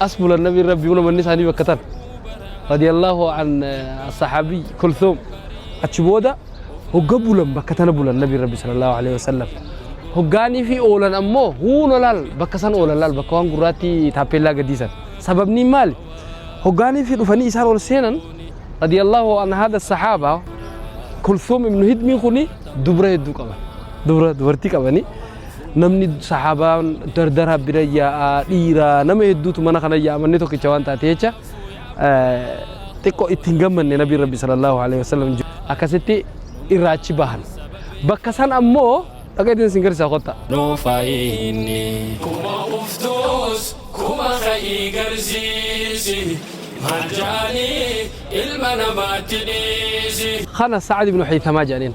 Asbula nabi rabbi una manni isaanii bakka tan radiyallahu an sahabi kulthum achi booda hogga bulan bakka tana bulan nabi rabbi sallallahu alaihi wasallam hoggaanii fi oolan ammoo huuna laal bakka san oolan laal bakka waan gurraatti taappeellaa gadiisan sababni maali hoggaanii fi dhufanii isaan ol seenan radiyallahu an hada sahaaba kulthum ibnu hidmii kuni dubra hedduu qaban dubra dubartii qabanii namni sahaabaan dardaraa bira yaa'a dhiira nama hedduutu mana kana yaa'a manni tokkicha waan taate jecha xiqqoo itti hin gammanne nabiin rabbi sallallahu alaihi wasallam akkasitti irraa achi bahan bakka san ammoo dhagaa iddoo isin garsiisaa kotta. Nuufayinni kuma uftuus kuma ka'ii garsiisi maal jaanii ilma namaatti dhiisi. Kana Sa'ad ibn Haythamaa jedhaniin.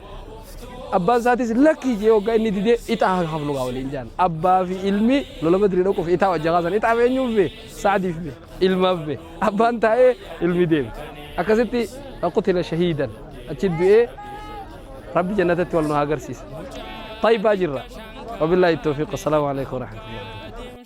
Abbaan isaatis lakkii jee hoggaa inni didee ixaa haa hafnu gaa waliin jaan. Abbaa fi ilmi lola badrii dhaquuf ixaa wajja kaasan. Ixaaf eenyuuf bee? Saadiif bee? Ilmaaf bee? Abbaan taa'ee ilmi deeme. Akkasitti qutila shahiidan achi du'ee rabbi jannatatti wal nu haa agarsiisa. Tayyibaa jirra. Wabillahi tawfiq. Assalaamu alaikum warahmatullahi.